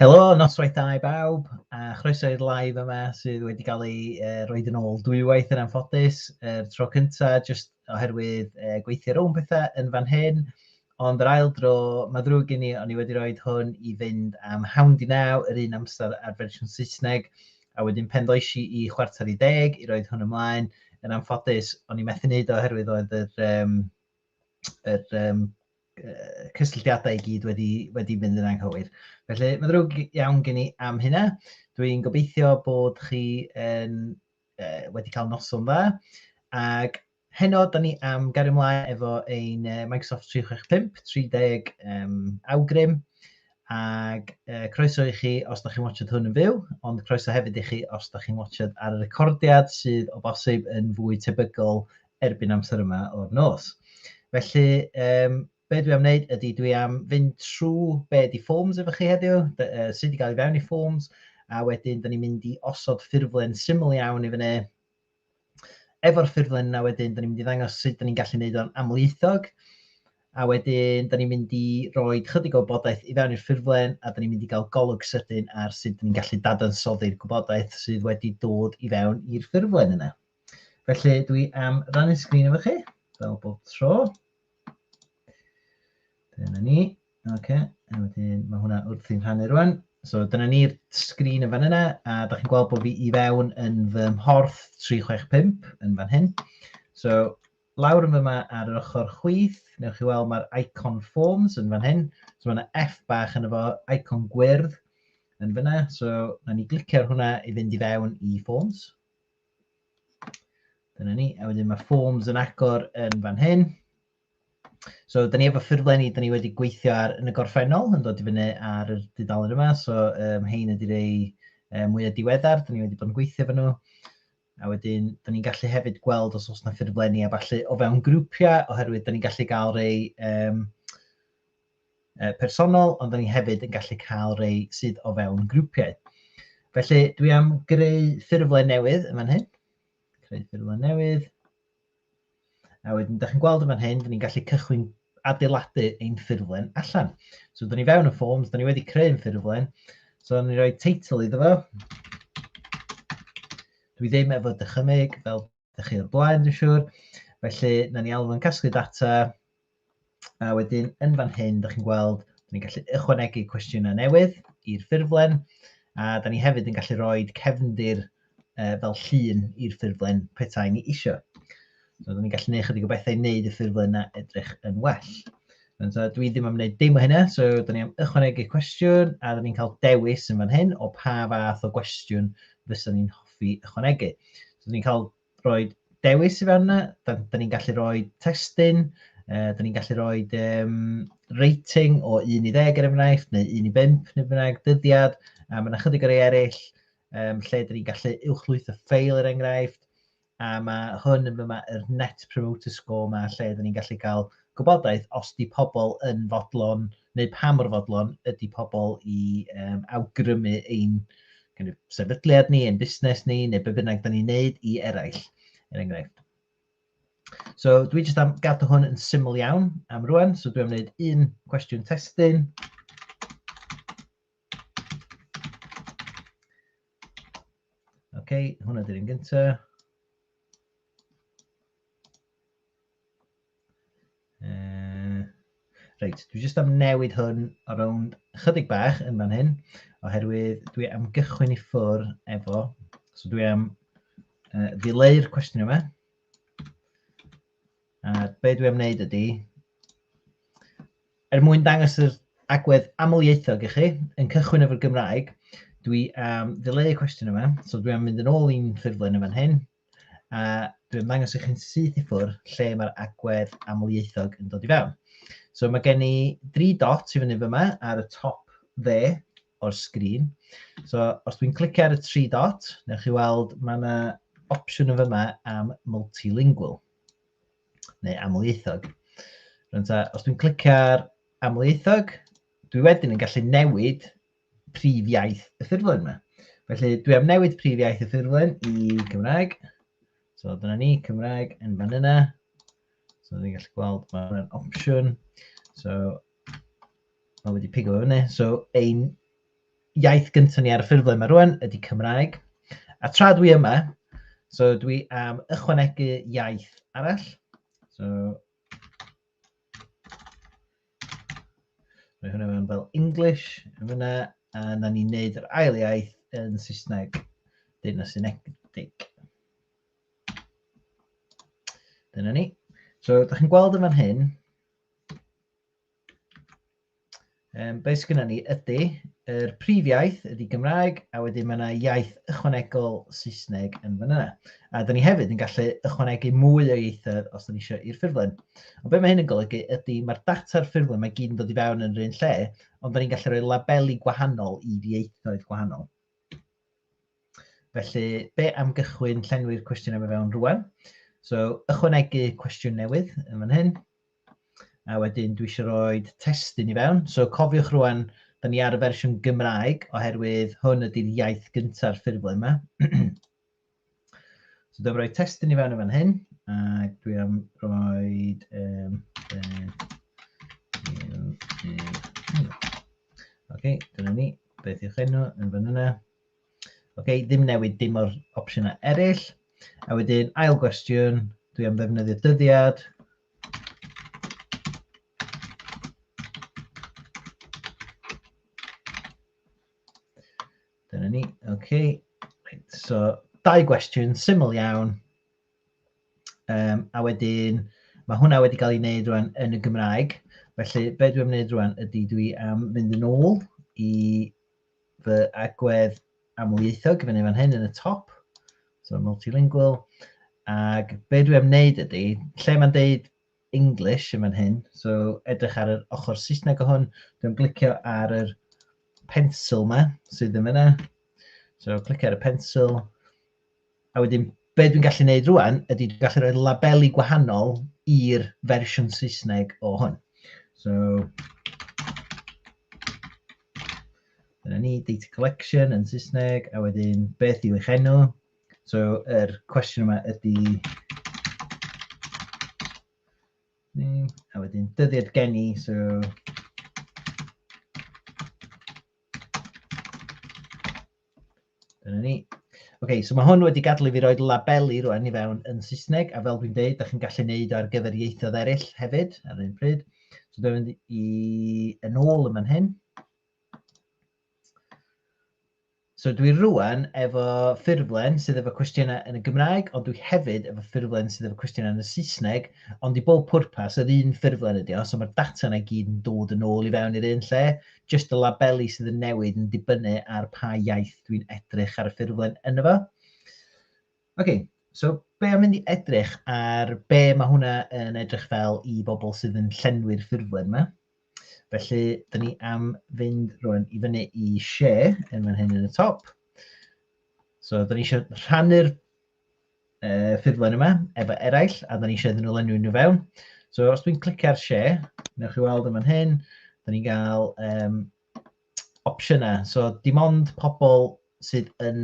Helo, noswaith da i bawb, a chroeso i'r live yma sydd wedi cael ei uh, roed yn ôl dwywaith yn anffodus. Y uh, tro cyntaf, jyst oherwydd uh, gweithio rhwng pethau yn fan hyn, ond yr ail dro, mae ddrwg gen i, o'n i wedi roed hwn i fynd am hawn di naw, yr un amser ar fersiwn Saesneg, a wedyn pen ddoesi i chwarter i deg i roed hwn ymlaen. Yn anffodus, o'n i methu wneud oherwydd oedd yr, um, yr um, cysylltiadau i gyd wedi, wedi mynd yn anghywir. Felly, mae'n ddrwg iawn gen i am hynna. Dwi'n gobeithio bod chi yn, uh, wedi cael noson dda. Ac heno, da ni am gario ymlaen efo ein Microsoft 365, 30 um, awgrym. Ac uh, croeso i chi os da chi'n watchod hwn yn fyw, ond croeso hefyd i chi os da chi'n watchod ar y recordiad sydd o bosib yn fwy tebygol erbyn amser yma o'r nos. Felly, um, be dwi am wneud ydy dwi am fynd trwy be di forms efo chi heddiw, uh, sydd wedi cael ei fewn i forms, a wedyn da ni'n mynd i osod ffurflen syml iawn i fyny. Efo'r ffurflen yna wedyn, da ni'n mynd i ddangos sut da ni'n gallu gwneud o'n amlieithog, a wedyn da ni'n mynd i roi chydig o bodaeth i fewn i'r ffurflen, a da ni'n mynd i gael golwg sydyn ar sut da ni'n gallu dadansoddi'r gwybodaeth sydd wedi dod i fewn i'r ffurflen yna. Felly dwi am rannu sgrin efo chi, fel bob tro. Dyna ni. OK, a wedyn mae hwnna wrth i'n rhannu rwan. So dyna ni'r sgrin yn fan yna, a da chi'n gweld bod fi i fewn yn fy mhorth 365 yn fan hyn. So lawr yn fy yma ar yr ochr chwith, newch chi weld mae'r icon forms yn fan hyn. So mae yna F bach yn efo icon gwyrdd yn fyna. So na ni glicio'r hwnna i fynd i fewn i forms. Dyna ni. A wedyn mae forms yn agor yn fan hyn. So, da ni efo ffurflenni, da ni wedi gweithio ar yn y gorffennol, yn dod i fyny ar y dudalen yma. So, um, hein ydy rei um, mwy o diweddar, da ni wedi bod yn gweithio efo nhw. A wedyn, da ni'n gallu hefyd gweld os oes yna ffurflenni a falle o fewn grwpiau, oherwydd da ni'n gallu gael rei um, uh, personol, ond da ni hefyd yn gallu cael rei sydd o fewn grwpiau. Felly dwi am greu ffurflen newydd yn fan hyn. Creu ffurflen newydd. A wedyn, da chi'n gweld yn fan hyn, da ni'n gallu cychwyn adeiladu ein ffurflen allan. So, da ni fewn y forms, da ni wedi creu ein ffurflen. So, da ni'n rhoi teitl iddo fo. Dwi ddim efo dychymyg, fel ydych chi o'r blaen, dwi'n siŵr. Felly, na ni alw yn casglu data, a wedyn yn fan hyn, da chi'n gweld, da ni'n gallu ychwanegu cwestiynau newydd i'r ffurflen, a da ni hefyd yn gallu rhoi cefndir uh, fel llun i'r ffurflen petai ni eisiau. So, da ni'n gallu gwneud chydig o bethau i wneud y ffurflen yna edrych yn well. And so dwi ddim am wneud dim o hynna, so da ni am ychwanegu cwestiwn a da ni'n cael dewis yn fan hyn o pa fath o gwestiwn fysa ni'n hoffi ychwanegu. So da ni'n cael rhoi dewis i fan yna, da, da ni'n gallu rhoi testyn, uh, da ni'n gallu rhoi um, rating o 1 i 10 er enghraifft, neu 1 i 5 neu bynnag, dyddiad, a mae yna chydig o rei eraill um, lle da ni'n gallu uwchlwytho ffeil er enghraifft, A mae hwn yn fy mae'r net promoter score yma lle dyn ni'n gallu cael gwybodaeth os di pobl yn fodlon neu pa mor fodlon ydy pobl i um, awgrymu ein kind of, sefydliad ni, ein busnes ni, neu be bynnag dyn ni'n neud i eraill, er enghraifft. So dwi jyst am gadw hwn yn syml iawn am rwan, so dwi'n am wneud un cwestiwn testyn. OK, hwnna dy'r un gyntaf. Reit, dwi jyst am newid hwn o rownd chydig bach yn fan hyn, oherwydd dwi am gychwyn i ffwr efo, so dwi am uh, ddileu'r cwestiwn yma. A be dwi am wneud ydy, er mwyn dangos yr agwedd amlieithog i chi, yn cychwyn efo'r Gymraeg, dwi am ddileu y cwestiwn yma, so dwi am mynd yn ôl i'n ffurflen yn fan hyn, a dwi am ddangos i chi'n syth i ffwrdd lle mae'r agwedd amlieithog yn dod i fewn. So mae gen i dri dot i fyny fyma ar y top dde o'r sgrin. So os dwi'n clicio ar y tri dot, newch chi weld mae yna opsiwn yn fyma am multilingual. neu amlieithog. Rwy'n ta, os dwi'n clicio ar amlieithog, dwi wedyn yn gallu newid prif iaith y ffurflen yma. Felly dwi am newid prif iaith y ffurflen i Gymraeg. So dyna ni, Cymraeg yn fan yna. So ni'n gallu gweld mae'n opsiwn. So mae wedi pigo fe fyny. So ein iaith gyntaf ni ar y ffurflen mae rwan ydy Cymraeg. A tra dwi yma, so dwi am ychwanegu iaith arall. So, mae hwnna mewn fel English yn fyna, a na ni'n neud yr ail iaith yn Saesneg, dyn o Synegdig. Dyna ni. So, da chi'n gweld yn fan hyn, Um, be sydd ni ydy, yr prif iaith ydy Gymraeg, a wedyn mae yna iaith ychwanegol Saesneg yn fan yna. A da ni hefyd yn gallu ychwanegu mwy o ieithoedd os da ni eisiau i'r ffurflen. Ond be mae hyn yn golygu ydy, mae'r data'r ffurflen mae gyd yn dod i fewn yn yr un lle, ond da ni'n gallu rhoi labeli gwahanol i ieithoedd gwahanol. Felly, be am gychwyn llenwi'r cwestiwn yma fewn rwan? So, ychwanegu cwestiwn newydd yn fan hyn. A wedyn dwi eisiau rhoi testyn i fewn. So cofiwch rwan, da ni ar y fersiwn Gymraeg oherwydd hwn ydy'r iaith gyntaf ffurflen yma. so dwi'n rhoi testyn i fewn i fan hyn. A dwi am rhoi... Um, um, um, um, okay, dyna ni. Beth yw'ch enw yn fan yna? Ok, ddim newid dim o'r opsiynau eraill. A wedyn, ail gwestiwn, dwi am ddefnyddio dyddiad. Dyna ni, ok. Right, so, dau gwestiwn, syml iawn. Um, a wedyn, mae hwnna wedi cael ei wneud rwan yn y Gymraeg. Felly, be dwi'n wneud rwan ydy dwi am mynd yn ôl i fy agwedd amlieithog i fyny fan hyn yn y top, so multilingual, ac be dwi am wneud ydy, lle mae'n deud English yn fan hyn, so edrych ar yr ochr Saesneg o hwn, dwi'n glicio ar yr pencil yma sydd yn fyna, so clicio ar y pencil, A wedyn, be dwi'n gallu neud rŵan ydy dwi'n gallu rhoi labeli gwahanol i'r fersiwn Saesneg o hwn. So, dyna ni, data collection yn Saesneg, a wedyn beth yw eich enw? So, yr cwestiwn yma ydy... A wedyn dyddiad geni, so... Dyna ni. OK, so mae hwn wedi gadlu fi roed labeli rwan i fewn yn Saesneg, a fel dwi'n dweud, da chi'n gallu neud o ar gyfer ieithoedd eraill hefyd, ar yr un pryd. So dwi'n mynd i yn ôl yma'n hyn. So dwi rwan efo ffurflen sydd efo cwestiynau yn y Gymraeg, ond dwi hefyd efo ffurflen sydd efo cwestiynau yn y Saesneg, ond i bob pwrpas yr un ffurflen ydi o, so mae'r data yna i gyd yn dod yn ôl i fewn i'r un lle, Jyst y labeli sydd yn newid yn dibynnu ar pa iaith dwi'n edrych ar y ffurflen yna fo. OK, so be am mynd i edrych ar be mae hwnna yn edrych fel i bobl sydd yn llenwi'r ffurflen yma. Felly, dyn ni am fynd rwan i fyny i share yn fan hyn yn y top. So, dyn ni eisiau rhannu'r uh, ffurflen yma efo eraill, a da ni eisiau iddyn nhw lenwi nhw fewn. So os dwi'n clicio ar share, newch chi weld yma'n hyn, da ni'n cael um, opsiynau. So dim ond pobl sydd yn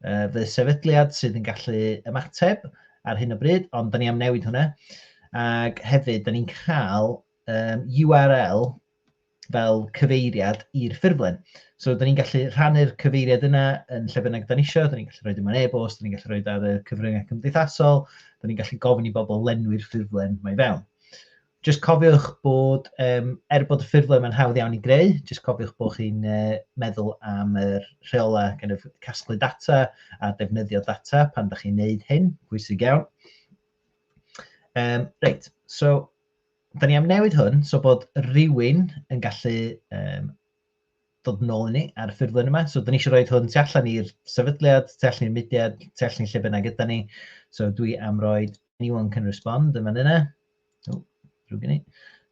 uh, fy sefydliad sydd yn gallu ymateb ar hyn o bryd, ond da ni am newid hwnna. Ac hefyd, da ni'n cael um, URL fel cyfeiriad i'r ffurflen. So, da ni'n gallu rhannu'r cyfeiriad yna yn lle bynnag da ni eisiau, da ni'n gallu rhoi dim ond e-bost, da ni'n gallu rhoi ar y cyfryngau cymdeithasol, da ni'n gallu gofyn i bobl lenwi'r ffurflen mae fewn. Just cofiwch bod, um, er bod y ffurflen mae'n hawdd iawn i greu, just cofiwch bod chi'n uh, meddwl am yr rheolau kind of, casglu data a defnyddio data pan da chi'n neud hyn, pwysig iawn. Um, reit, so Da ni am newid hwn so bod rhywun yn gallu um, dod nôl i ni ar y ffurflen yma. So, da ni eisiau rhoi hwn tu allan i'r sefydliad, tu allan i'r mudiad, tu allan i'r lle bynnag gyda ni. So, dwi am roi anyone can respond yn fan yna. O, drwy gynnu.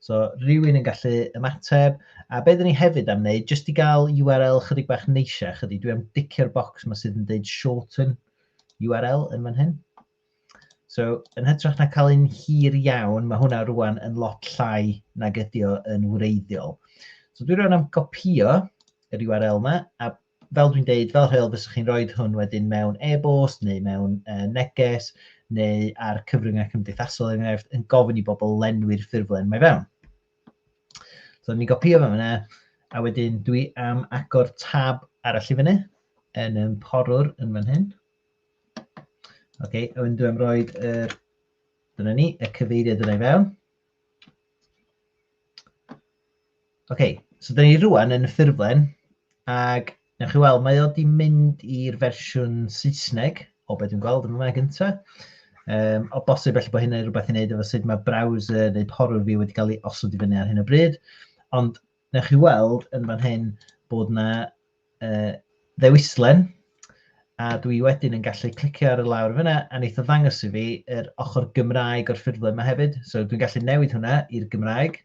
So, rhywun yn gallu ymateb. A beth ni hefyd am wneud, jyst i gael URL chydig bach neisiach ydy, dwi am dicio'r bocs yma sydd yn dweud shorten URL yn fan hyn. So, yn hytrach na cael un hir iawn, mae hwnna rwan yn lot llai nag ydi o yn wreiddiol. So dwi rwan am gopio yr URL yma, a fel dwi'n deud, fel rheol fyswch chi'n rhoi hwn wedyn mewn e-bost neu mewn uh, neges neu ar cyfryngau cymdeithasol er enghraifft yn gofyn i bobl lenwi'r ffurflen mae fewn. So ni'n gopio fe yna, a wedyn dwi am agor tab arall i fyny yn ym porwr yn fan hyn. Ok, a wedyn dwi'n rhoi yr... Dyna ni, y cyfeiriad yna i fewn. Ok, so dyna ni rwan yn y ffurflen, ac newch chi weld, mae o wedi mynd i'r fersiwn Saesneg, o beth dwi'n gweld yma gyntaf. Um, o bosib felly bod hynny rhywbeth i wneud efo sut mae browser neu porwr fi wedi cael ei osod i fyny ar hyn o bryd. Ond newch chi weld yn fan hyn bod yna uh, ddewislen, a dwi wedyn yn gallu clicio ar y lawr fyna, a wneith o ddangos i fi yr ochr Gymraeg o'r ffurflen yma hefyd. So dwi'n gallu newid hwnna i'r Gymraeg.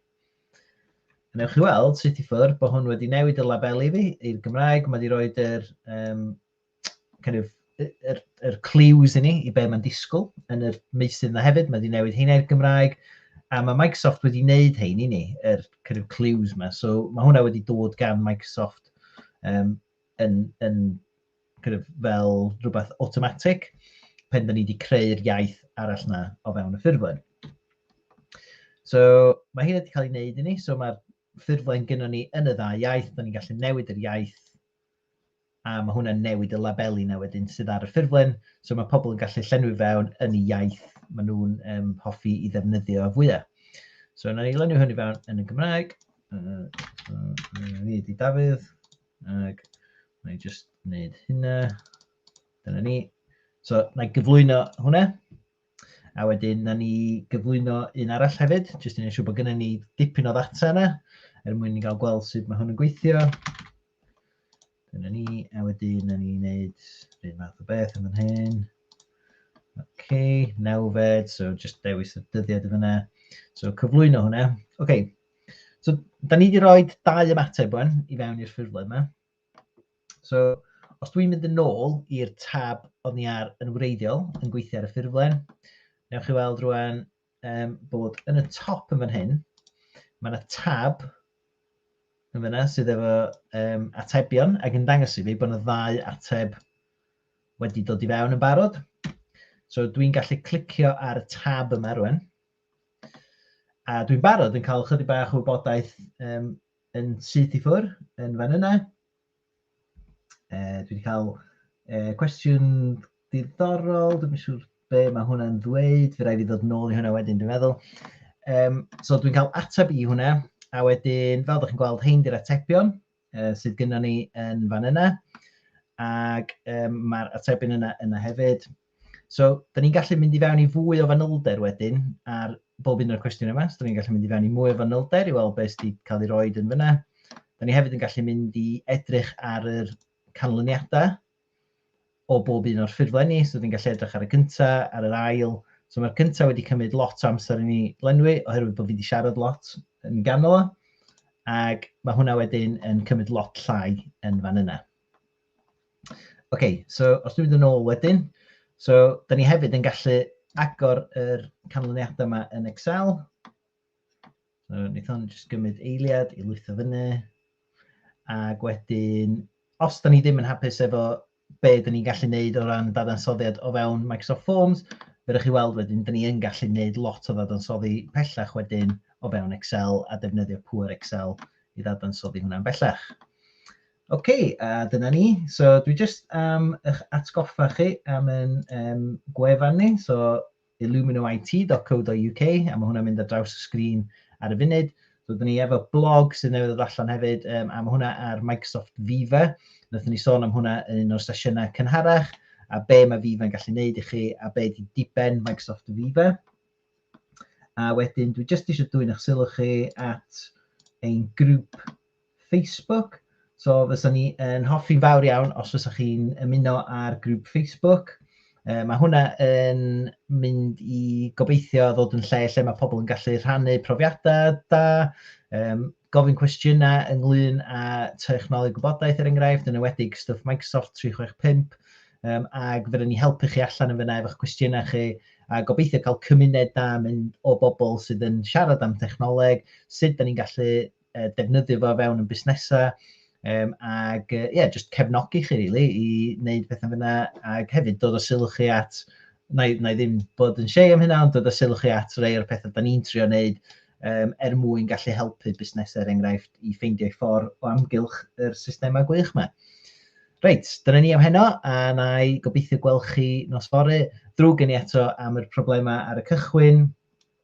A newch chi weld, sut i ffwrdd, bod hwn wedi newid y labeli fi i'r Gymraeg. Mae wedi rhoi yr um, kind of yr, yr clues i ni i be mae'n disgwyl yn yr meysydd yna hefyd, mae wedi newid heina i'r Gymraeg, a mae Microsoft wedi wneud hein i ni, yr kind of clues yma. So mae hwnna wedi dod gan Microsoft um, yn, yn kind of fel rhywbeth automatic pen da ni wedi creu'r iaith arall na o fewn y ffurflen. So mae hyn wedi cael ei wneud i ni, so mae'r ffurflen gyda ni yn y dda iaith, da ni'n gallu newid yr iaith a mae hwnna'n newid y labeli 'na wedyn sydd ar y ffurflen, so mae pobl yn gallu llenwi fewn yn y iaith maen nhw'n um, hoffi i ddefnyddio fwyaf. So yna ni lenwi hynny fewn yn y Gymraeg, ni ydi Dafydd, ac mae'n just wneud hynna, dyna ni. So na i gyflwyno hwnna, A wedyn, na ni gyflwyno un arall hefyd, jyst i wneud siŵr bod gennym ni dipyn o ddata yna, er mwyn ni gael gweld sut mae hwn yn gweithio. Dyna ni, a wedyn, na ni wneud rhywun math o beth yn fan hyn. OK, nawfed, so just dewis y dyddiad y fyna. So cyflwyno hwnna. OK, so da ni wedi rhoi dau ymateb wan i fewn i'r ffurflen yma. So, os dwi'n mynd yn ôl i'r tab o'n i ar yn wreiddiol, yn gweithio ar y ffurflen, newch chi weld rwan um, bod yn y top yn fan hyn, mae yna tab yn fyna sydd efo um, atebion ac yn dangos i fi bod yna ddau ateb wedi dod i fewn yn barod. So dwi'n gallu clicio ar y tab yma rwan. A dwi'n barod yn cael chydig bach o wybodaeth um, yn syth i ffwr yn fan yna. E, dwi wedi cael e, cwestiwn diddorol, dwi'n siŵr be mae hwnna'n ddweud, fe rai fi ddod nôl i hwnna wedyn, dwi'n meddwl. Um, so dwi'n cael ateb i hwnna, a wedyn, fel ydych chi'n gweld, hyn di'r atebion uh, sydd gyda ni yn fan yna, ac um, mae'r atebion yna yna hefyd. So, da ni'n gallu mynd i fewn i fwy o fanylder wedyn ar bob un o'r cwestiwn yma. So, da ni'n gallu mynd i fewn i mwy o fanylder i weld beth sydd cael ei roed yn fyna. Da ni hefyd yn gallu mynd i edrych ar yr canlyniadau o bob un o'r ffurflenni. So, da ni'n gallu edrych ar y cyntaf, ar yr ail, So mae'r cyntaf wedi cymryd lot o amser i ni lenwi oherwydd bod fi wedi siarad lot yn ganol o. Ac mae hwnna wedyn yn cymryd lot llai yn fan yna. OK, so os dwi'n mynd yn ôl wedyn, so da ni hefyd yn gallu agor yr canlyniadau yma yn Excel. So, wnaethon ni jyst gymryd eiliad i lwytho fyny. Ac wedyn, os da ni ddim yn hapus efo be da ni'n gallu neud o ran dadansoddiad o fewn Microsoft Forms, fe rydych chi weld wedyn, da ni yn gallu neud lot o ddadansoddi pellach wedyn o fewn Excel a defnyddio pŵer Excel i ddadansoddi hwnna'n bellach. OK, a dyna ni. So dwi jyst am eich atgoffa chi am yn um, gwefan ni, so illuminoit.co.uk, a mae hwnna'n mynd ar draws y sgrin ar y funud. So dyn ni efo blog sydd newydd ddod allan hefyd, um, a mae hwnna ar Microsoft Viva. Nethon ni sôn am hwnna yn un o'r sesiynau cynharach, a be mae Viva'n gallu neud i chi, a be di diben Microsoft Viva. A wedyn, dwi jyst eisiau dwy'n eich sylw chi at ein grŵp Facebook. So fysa ni yn hoffi'n fawr iawn os fysa chi'n ymuno â'r grŵp Facebook. Uh, mae hwnna yn mynd i gobeithio ddod yn lle lle mae pobl yn gallu rhannu profiadau da, um, gofyn cwestiynau ynglyn â technoleg gwybodaeth er enghraifft, yn ywedig stwff Microsoft 365, um, ac fydden ni helpu chi allan yn fyna efo'ch cwestiynau chi, a gobeithio cael cymuned da mynd o bobl sydd yn siarad am technoleg, sut da ni'n gallu uh, defnyddio fo fewn yn busnesau, um, ac ie, uh, yeah, just cefnogi chi rili really, i wneud pethau fyna, ac hefyd dod o sylw chi at, na, na i ddim bod yn siei am hynna, ond dod o sylw chi at rei o'r pethau da ni'n trio wneud, um, er mwyn gallu helpu busnesau er enghraifft i ffeindio ei ffordd o amgylch yr systemau gwych yma. Reit, dyna ni am heno, a na i gobeithio gweld chi nos fore. Drwg gen i eto am yr problemau ar y cychwyn.